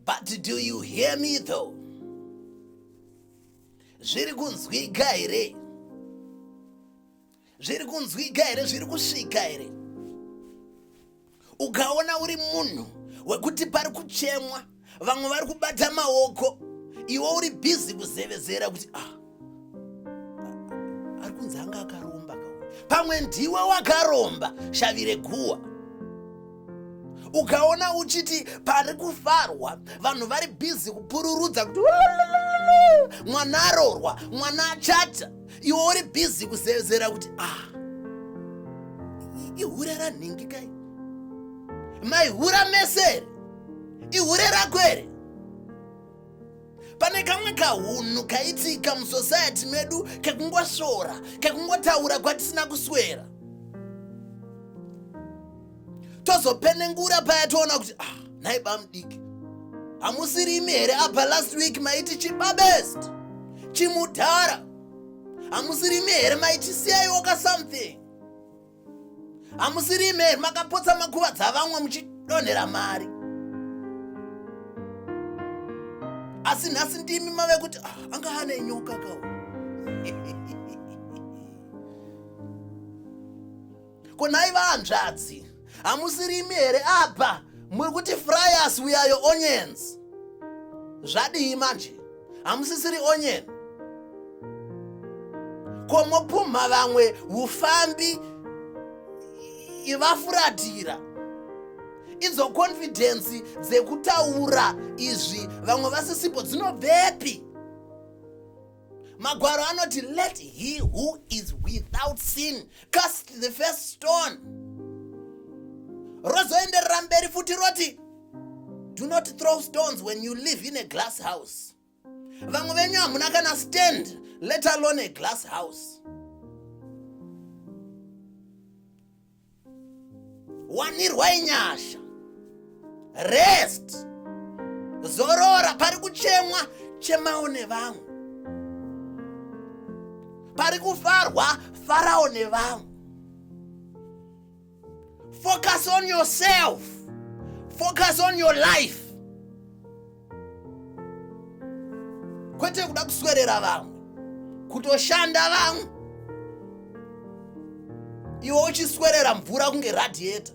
But do you hear me though? Zviri kunzwika here? Zviri kunzwika here? Zviri kusvika here? Ukaona uri munhu wekuti pari kuchemwa, vamwe vari kubata maoko, iwe uri busy kuzevezera kuti ah ari kunzi anga akaromba pamwe ndiwe wakaromba shavi reguwa ukaona uchiti pari kufarwa vanhu vari bhizi kupururudza kuti mwana arorwa mwana achata iwe uri bhizi kuzezera kuti ah ihure ranhingi kai maihura mesere ihure rako here pane kamwe kahunhu kaitika musociety medu kekungosvora kekungotaura kwatisina kuswera tozopenengura paya toona kuti ah nhai bamudiki hamusiri imi here apa last week maiti chibabest chimudhara hamusiri imi here maiti siyaiwoka something hamusiri imi here makapotsa makuva dzavamwe muchidonhera mari asi nhasi ndimi mave kuti ah, anga ane nyoka kawo ko nhai vahanzvadzi hamusiri imi here apa muri kuti frias we are your onions zvadii manje hamusisiri onyeni ko mopumha vamwe ufambi ivafuratira idzo konfidhensi dzekutaura izvi vamwe vasisipo dzinobvepi magwaro anoti let he who is without sin cast the first stone rozoenderera mberi futi roti do not throw stones when you live in a glass house vamwe venyu hamuna kana stand let alone a glass house wanirwai nyasha rest zorora pari kuchemwa chemawo nevamwe pari kufarwa farawo nevamwe focus on yourself focus on your life kwete kuda kuswerera vamwe kutoshanda vamwe iwe uchiswerera mvura kunge radiator